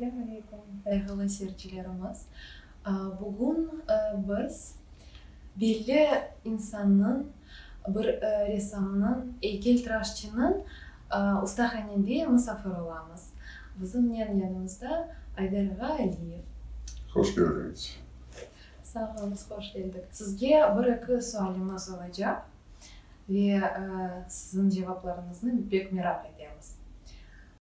Selam aleyküm, sayğılı seyircilerimiz! Bugün biz belli insannıñ, bir ressamnıñ, eykeltıraşçınıñ ustahanede musafir olamız. Bizimnen yanımızda Aydar ağa Aliyev. Hoş keldiñiz! Sağ olunız, hoş keldik! Sizge bir-eki sualimiz olacaq ve siziñ cevaplarıñıznı pek meraq etemiz.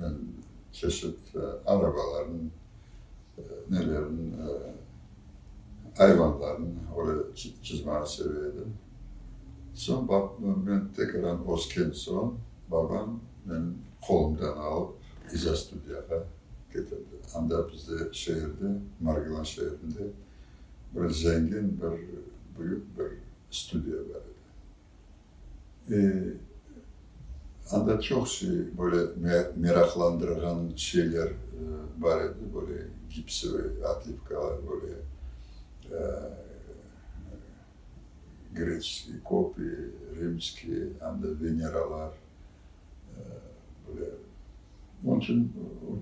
Men çeşit arabalarnı, nelerni, ayvanlarnı öyle çizmege seve edim. Soñ baqtım, men tekrar ösken soñ, babam meni qolumdan alıp, İzâ studiyağa ketirdi. Anda bizde şeerde, Margilan şeerinde bir zengin, bir büyük bir studiya bar edi. Anda çoq şey, böyle meraqlandırğan şeyler bar edi, böyle gipsevay otlivkalar, böyle greçeskiy kopi, rimskiy, hám de veneralar, böyle. Onıñ içün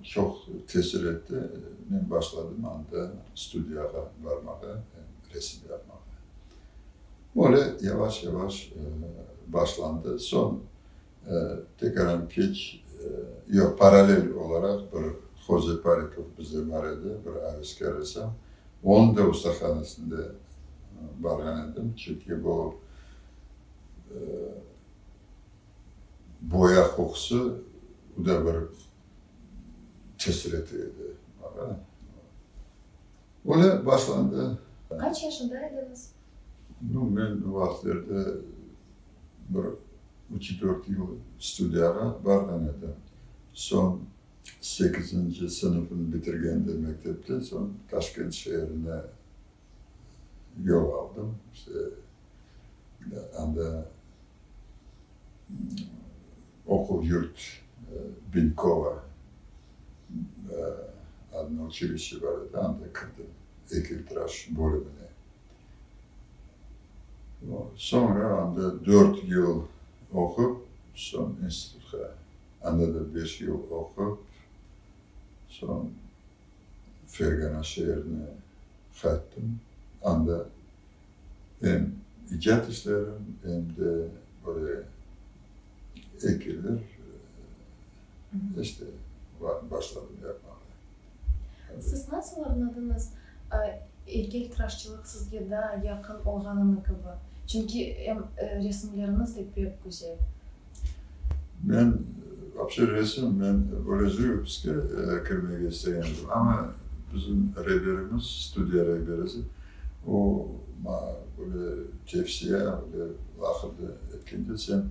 çoq tesir etti, men başladım anda studiyağa barmağa, resim yapmağa. Böyle yavaş-yavaş başlandı. Soñ tekraren keç, yoq, paralel olaraq bir Hoze Parikov bizde bar edi, bir avisker ressam. Onıñ da ustahanesinde barğan edim. Çünki bu boya qoqusı uda bir tesir ete edi maña. Böyle başlandı. Qaç yaşında ediñiz? Nü, men o vaqıtlarda bir üç-dört yıl studiyağa barğan edim. Soñ, sekizinci sınıfnı bitirgende mektepten soñ, Taşkent şeerine yol aldım. İşte, anda oquv-yurt Binkova. Adına uçilişçe bar edi, anda kirdim, eykeltıraş bölümine. Soñra anda dört yıl oqup, soñ institutqa, anda da beş yıl oqup, soñ Fergana şeerine qayttım. Anda em icad işlerim, em de böyle. Eykeller işte başladım yapmağa. Siz nasıl añladınız, eykeltıraşçılıq sizge daa yaqın olğanını kibi? Çünki em resimleriñiz de pek güzel. Men vapşe resim, men böyle jivopıske kirmege istegendim, amma bizim reberimiz, studiya reberisi O, maña böyle tevsiye aldı, laqırdı etkende, sen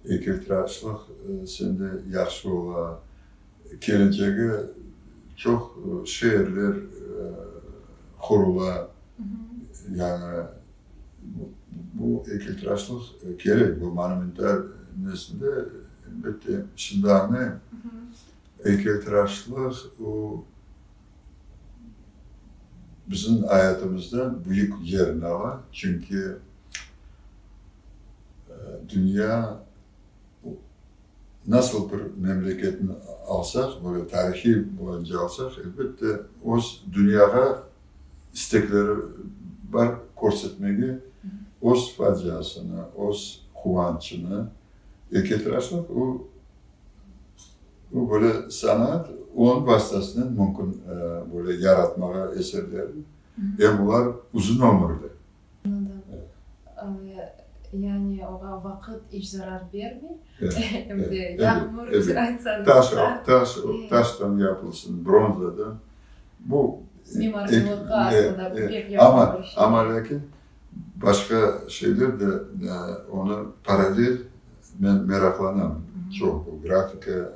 eykiltıraşlıq sende yahşı ola, keleçege çoq şeerler qurula, yañı bu eykiltıraşlıq kerek, bu monumental nesinde, elbette, şimdi añlayım, eykiltıraşlıq o, Bizim ayatimizde büyük yerin ala, çünki dünya nasıl bir memleketni alsaq, böyle tarihiy boyunca alsaq, elbette öz dünyağa istekleri bar körsetmege öz faciasını, öz quvançını. Eketraslık o, Bu böyle sanaat, onıñ vastasınen mümkün böyle yaratmağa eserlerni. Em olar uzun ömürli. Anladım. Yani oña vaqıt iç zarar bermey. Em de yağmur, aytsañız da. Taş, taştan yapılsın, bronzadan. Bu. Mimarcılıqqa aslında pek yaqın bir şey. Amma lâkin başqa şeyler de onı paralel men meraqlanam çoq bu grafika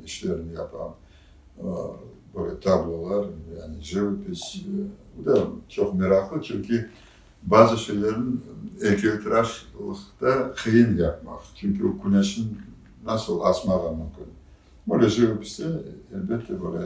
işlerini yapam böyle tablolar yani jivopis bu da çoq meraqlı çünki bazı şeylerin eykeltıraşlıqta qıyın yapmaq çünki o küneşin nasıl asmağa mümkün böyle jivopiste elbette böyle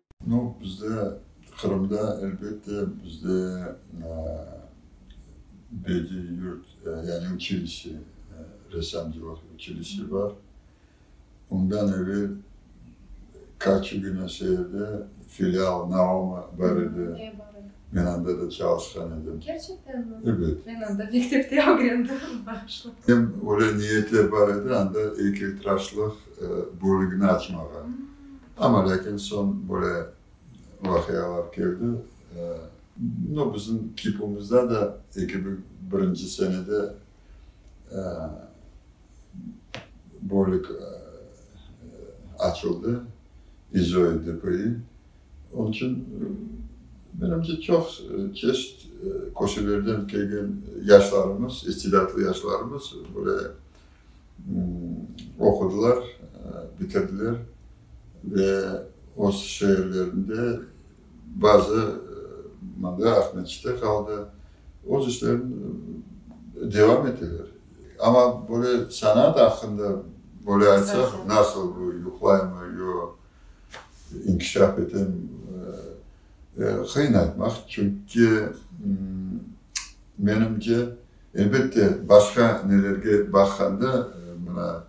No, bizde, Qırımda, elbette, bizde bediiy yurt, yani uçilişe, ressamcılıq uçilişe bar. Ondan evel Karçıgina şeerde filial Naoma bar edi. Ne bar edi? Men anda da çalışqan edim. Kerçekten mi? Ebet. Men anda mektepte ögrendim. Bağışla. Hem öyle niyetler bar edi, anda eykeltıraşlıq bölügini açmağa. Amma lâkin soñ böyle vaqialar keldi. No, bizim kipumızda da eki bin birinci senede bölük açıldı, İzoi DPI. Onıñ içün, menimce, çoq çeşit köşelerden kelgen yaşlarımız, istidadlı yaşlarımız böyle oqudılar, bitirdiler ve öz şeerlerinde, bazı mında Aqmescitte qaldı, öz işlerini devam eteler. Amma böyle sanaat aqqında böyle aytsaq, nasıl bu, yuqlaymı, yoq, inkişaf etemi, qıyın aytmaq. Çünki menimce. Elbette, başqa nelerge baqqanda, mına,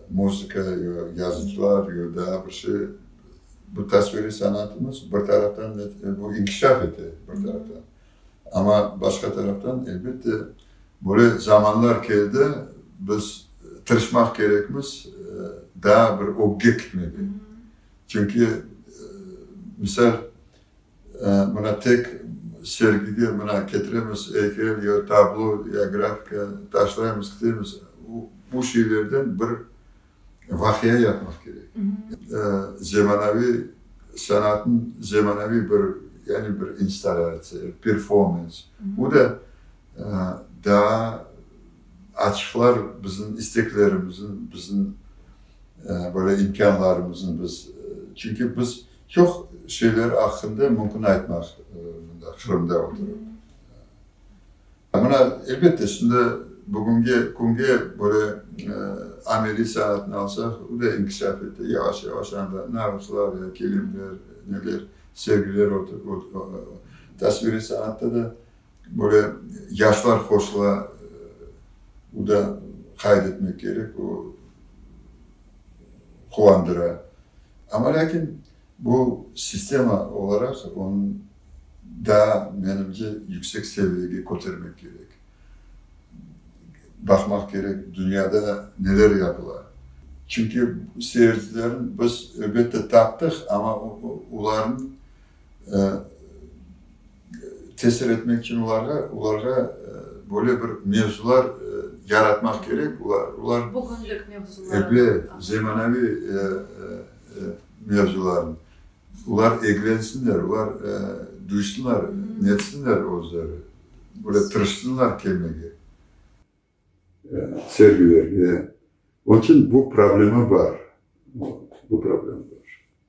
muzıka, yo yazıcılar, yo daa bir şey, bu tasviriy sanatımız bir taraftan bu inkişaf ete, bir taraftan. Amma başqa taraftan, elbette, böyle zamanlar keldi, biz tırışmaq kerekmiz daa bir ögge kitmege. Çünki, misal. Mına tek sergide mına ketiremiz, eykel ya tablo ya grafika taşlaymız, kitemiz. Bu şeylerden bir vaqia yapmaq kerek. Zemanaviy sanatnıñ zemanaviy bir, yani bir installâtsiya, performans. Bu da daa açıqlar bizim isteklerimizin, bizim böyle imkânlarımızın biz. Çünki biz. Çoq şeyler aqqında mümkün aytmaq mında, Qırımda oturıp. Mına, elbette, şimdi bugünge künge böyle ameliy sanatnı alsaq, o da inkişaf etti, yavaş-yavaş anda nağışlar, kilimler, neler, sergiler, tasviriy sanatta da Böyle yaşlar qosıla, o da qayd etmek kerek, o quvandıra. Amma lâkin bu sistema olaraq onı daa, menimce, yüksek seviyege kötermek kerek. Baqmaq kerek, dünyada neler yapıla. Çünki seyircilerni biz, elbette, taptıq, amma olarnıñ tesir etmek içün olarğa, olarğa böyle bir mevzular yaratmaq kerek, olar, olar. Bugünlik mevzular. Ebet, zemanaviy mevzularnı. Olar eglensinler, olar duysınlar, netsinler özleri, böyle tırışsınlar kelmege sergilerge. Onıçün bu problema bar, bu problema bar.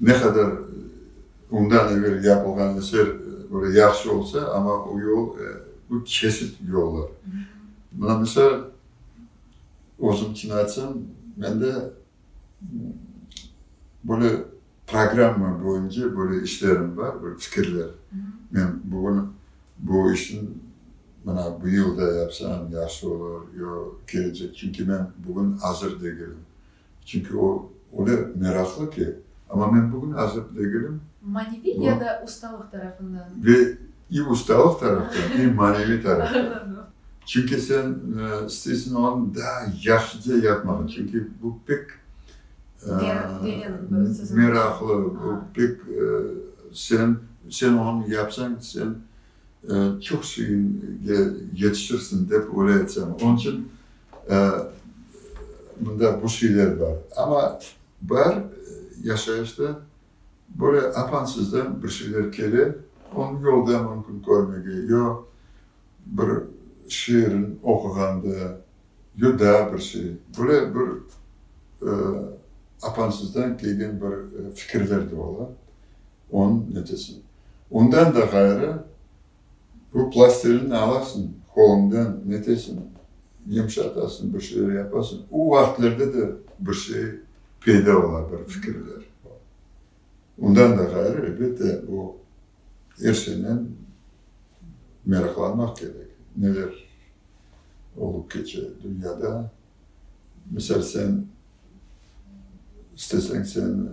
Ne qadar bundan evel yapılğan eser böyle yahşı olsa, amma o yol, bu kesit yollar. Mına misal, özüm kino aytsam, mende böyle programma boyunca böyle işlerim bar, böyle fikirler. Men bugün bu işni mına bu yılda yapsam yahşı olar yo kelecek. Çünki men bugün azır degilim. Çünki o, öyle meraqlı ki. Amma men bugün azır degilim. Maneviy ya da ustalıq tarafından? Ve i ustalıq tarafdan, i maneviy tarafdan. Çünki sen isteysiñ onı daa yahşıca yapmağa. Çünki bu pek meraqlı, bu pek sen, sen onı yapsañ, sen çoq şeyge yetişirsiñ dep öyle aytsam. Onıñ içün. Mında bu şeyler bar. Amma bar yaşayışta böyle apansızdan bir şeyler kele, onı yolda mümkün körmege, yo bir şiirin oquğanda, yo daa bir şey. Böyle bir apansızdan kelgen bir fikirler de ola, onıñ neticesi. Ondan da ğayrı, Bu plastilini alasıñ, qolundan netesiñ, yımşatasıñ, bir şeyler yapasıñ. O vaqıtlarda da bir şey peyda ola, bir fikirler. Ondan da ğayrı, elbette, bu er şeynen meraqlanmaq kerek, neler olıp keçe dünyada. Misal, sen isteseñ, sen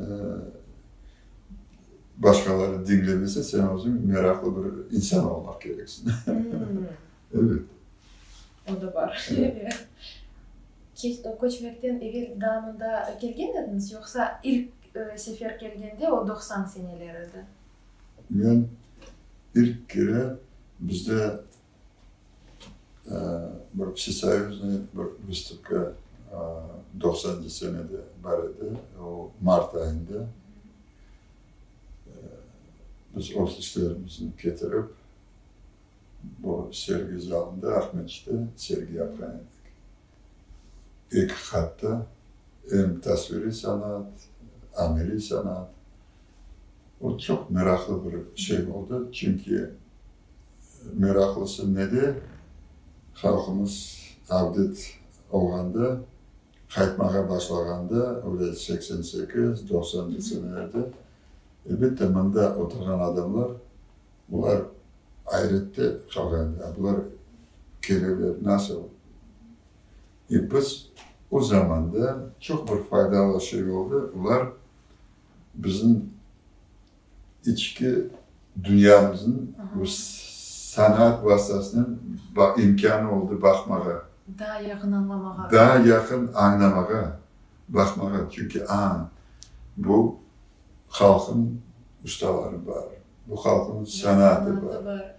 başqaları diñlemesen, sen özüñ meraqlı bir insan olmaq kereksiñ. Evet. O da bar. Köçmekten evel daa mında kelgen ediñiz, yoqsa ilk sefer kelgende o doqsan seneler edi? Men ilk kere bizde Bir vsesoyuznıy bir vıstupka doqsanıncı senede bar edi, o mart ayında. Biz ofislerimizni ketirip, bu sergi zalında, Aqmescitte sergi yapqan edik. Eqiqatta, em tasviriy sanaat, ameliy sanaat, o çoq meraqlı bir şey oldı, çünki meraqlısı ne de, halqımız avdet olğanda, qaytmağa başlağanda, öyle seksen sekiz, doqsanıncı senelerde, elbette, mında oturğan adamlar Bular ayrette qalğan ya bular keleler nasıl? E biz o zamanda çoq bir faydalı şey oldı, bular bizim içki dünyamızın bu sanaat vastasınen imkânı oldı baqmağa. Daa yaqın añlamağa. Daa yaqın añlamağa. Baqmağa, çünki aaa, bu halqnıñ ustaları bar, bu halqnıñ sanatı bar.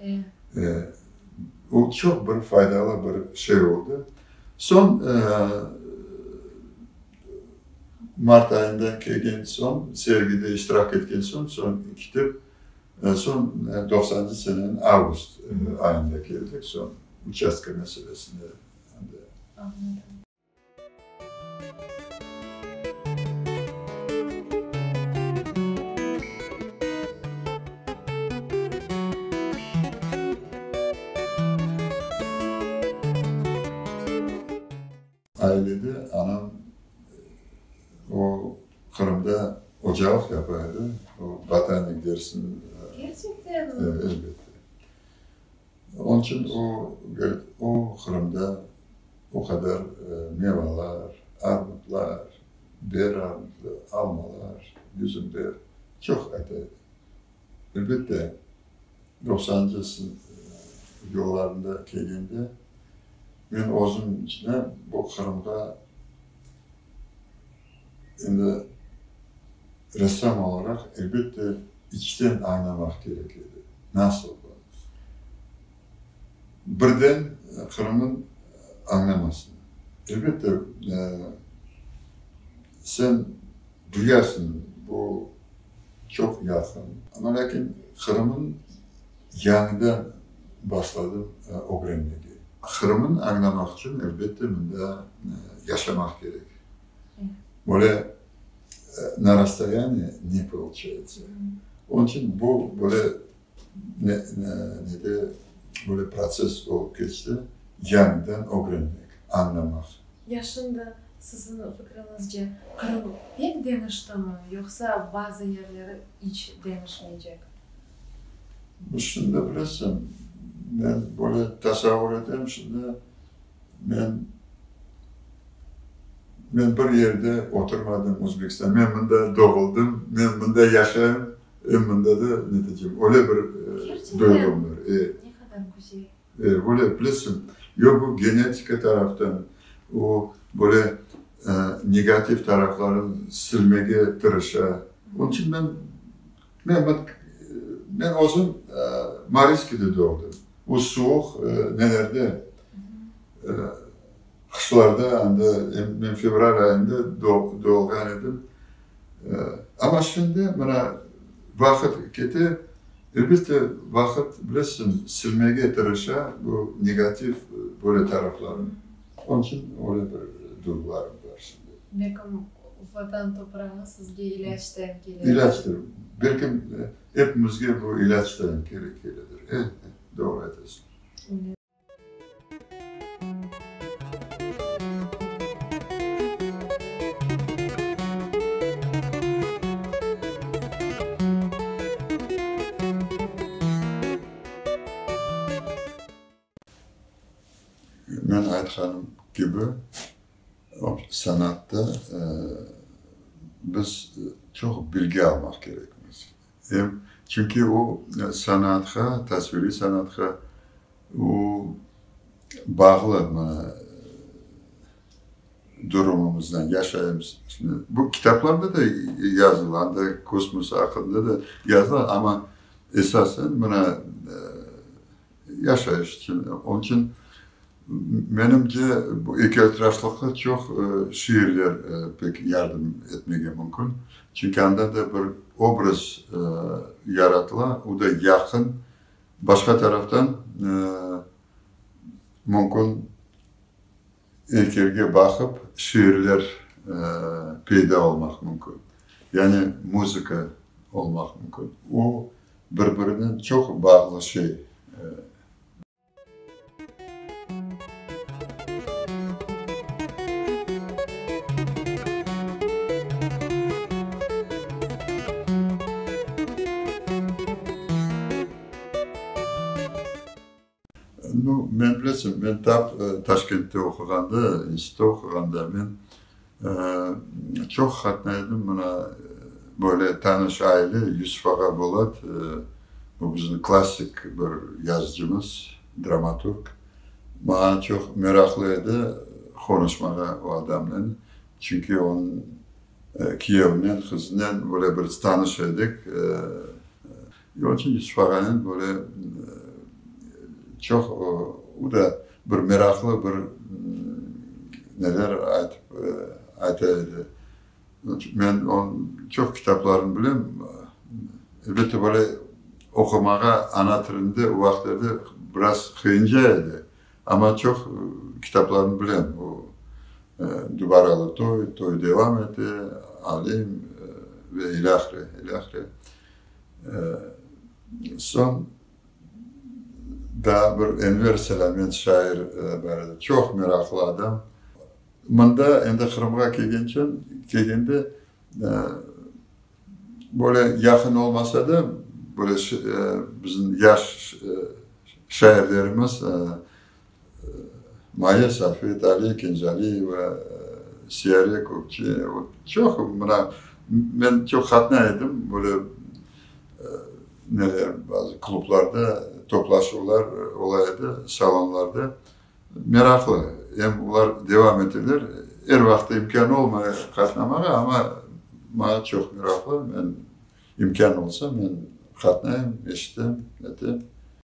O, çoq bir faydalı bir şey oldı. Soñ, mart ayında kelgen soñ, sergide iştirak etken soñ, soñ ketip, soñ doqsancı seneniñ avgust ayında keldik, soñ, uçastka meselesinde. Ailede anam o Qırımda ocalıq yapa edi, o botanik dersini. Kerçekten mi? Elbette. Onıñ içün o, o Qırımda o qadar mevalar, armudlar, ber armudlar, almalar, üzümler çoq ata edi. Elbette, doqsanıncı yıllarında kelgende, men özüm içine bu Qırımğa, Endi ressam olaraq, elbette, içten añlamaq kerek edi, nasıl bu, birden Qırım'ın añlamasını. Elbette, sen duyarsıñ, bu çoq yaqın. Amma lâkin Qırım'ın Yañıdan başladım ögrenmege. Qırımnı añlamaq içün, elbette, mında yaşamaq kerek. Böyle na rastoyanıye ne pıvılçayıtsa. Onıñ içün bu böyle nede, böyle protsess olıp keçti, yañıdan ögrenmek, añlamaq. Yaşında, siziñ fikriñizce, Qırım pek deñiştimi, yoqsa bazı yerleri iç deñişmeycek? Bu şimdi bilesiñ, men böyle tasavvur etem, şimdi men, men bir yerde oturmadım Özbekistan, men mında doğuldım, men mında yaşayım, e, mında da ne diycem, öyle bir duygum bar. E, e, böyle bilesiñ, yo bu genetika taraftan, o böyle negativ taraflarını silmege tırışa. Onıñ içün men Men, bak, men özüm Mariskide doğdım. O suvuq nelerde, qışlarda, anda men fevral ayında doğğan edim. Amma şimdi mına vaqıt kete, elbette, vaqıt, bilesiñ, silmege tırışa bu negativ böyle taraflarnı. Onıñ içün öyle bir duyğularım bar şimdi. Belkim Vatan toprağı sizge ilâc tayin kele. İlâcdır. Belkim epimizge bu ilâc tayin kele, keledir. E, e, doğru aytasiñ. Men aytqanım kibi, sanatta biz çoq bilgi almaq kerekmiz. Çünki o, sanatqa, tasviriy sanatqa o, bağlı durumumızdan, yaşayışımızdan. Bu kitaplarda da yazılandır, kosmos aqqında da yazıla, amma esasen, mına, Yaşayış içün. Onıñ içün menimce, bu ekiyotiraşlıqta çoq şiirler pek yardım etmege mümkün. Çünki anda da bir obraz yaratıla, o da yaqın. Başqa taraftan mümkün. Eykelge baqıp şiirler peyda olmaq mümkün, yani muzıka olmaq mümkün. O, bir-birinen çoq bağlı şey. Nu, men, bilesiñ, men taq Taşkentte oquğanda, institutta oquğanda men çoq qatnay edim mına böyle tanış aile, Yusif ağa Bolat, o bizim klassik bir yazıcımız, dramaturg, maña çoq meraqlı edi qonuşmağa o adamnen, çünki onıñ kiyevinen, qızınen böyle bir tanış edik. Yolcu İsfağanen böyle çoq, o da bir meraqlı bir neler aytıp, ayta edi. Men onıñ çoq kitaplarını bilem. Elbette, böyle oqumağa ana tilinde o vaqıtlarda biraz qıyınca edi, amma çoq kitaplarını bilem. O Dubaralı toy, Toy devam ete, Alim ve ilâhre, ilâhre. Soñ daa bir Enver Selâmet şair baredi, çoq meraqlı adam. Mında endi Qırımğa kelgençem, kelgende böyle yaqın olmasa da, böyle bizim yaş şairlerimiz, Maya Safet, Aliye Kenjaliyeva, Siyare Kökçe, vot çoq, mına, men çoq qatnay edim, böyle, neler, bazı klublarda toplaşuvlar ola edi, salonlarda. Meraqlı, em olar devam eteler. Er vaqıt imkân olmay qatnamağa, amma maña çoq meraqlı, men imkân olsa, men qatnayım, eşitem, netem.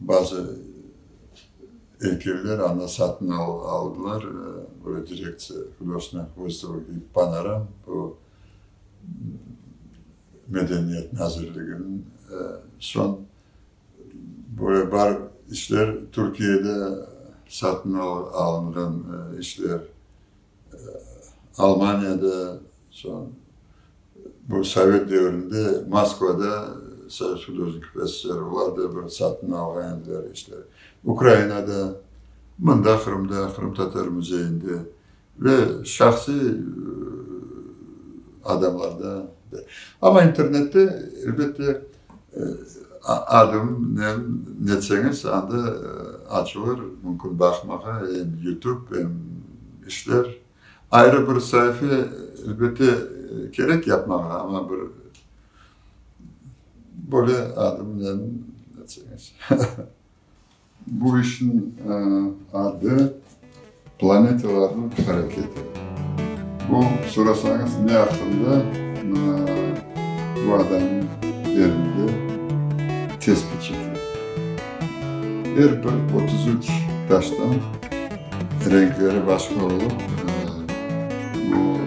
Bazı eykeller anı satın aldılar, böyle direktsiya hudosnıy vıstavka kibi panoram, bu Medeniyet nazirliginiñ soñ böyle bar işler Türkiyede satın alınğan işler. Almaniyada, soñ bu sovet devrinde Moskvada Sovet Hudojnikov SSR olar da bir satın alğan ediler işleri. Ukrainada, mında Qırımda, Qırımtatar müzeyinde ve şahsiy adamlarda da. Amma internette, elbette, Adımnen netseñiz, anda açılır, mümkün baqmağa, em yutub, em işler. Ayrı bir saife, elbette, kerek yapmağa, amma bir böyle adımnen netseñiz. Bu işniñ adı planetalarnıñ hareketi. Bu sorasañız ne aqqında, mına bu adamnıñ elinde tespit çekilir. Er bir otuz üç taştan renkleri başqa olıp, bu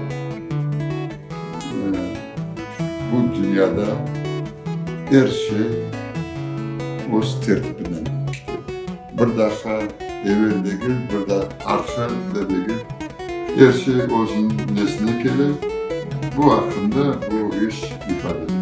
Bu dünyada er şey öz tertibinen işley. Bir daqa evel degil, bir da arqa da degil, er şey özüniñ nesine kele, bu aqqında bu iş ifade etmey.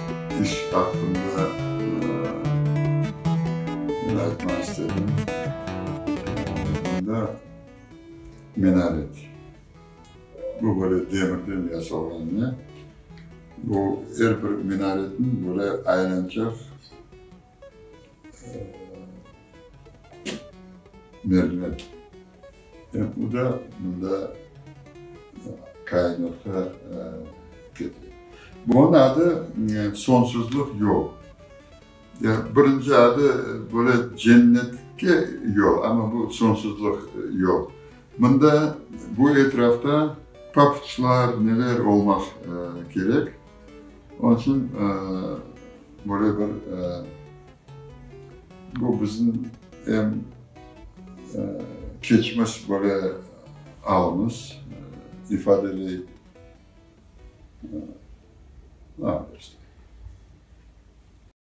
İş aqqında men aytmaq istedim, bunda minaret, bu böyle demirden yasalğan ne, bu er bir minaretniñ böyle aylançaq, merhamet. Ep bu da mında kainatqa ketedi. Bunıñ adı sonsuzlıq yol. Birinci adı böyle cennetke yol, amma bu sonsuzlıq yol. Mında bu etrafta papuçlar, neler olmaq kerek. Onıñ içün böyle bir, bu bizim em keçmiş böyle alımız, ifadeli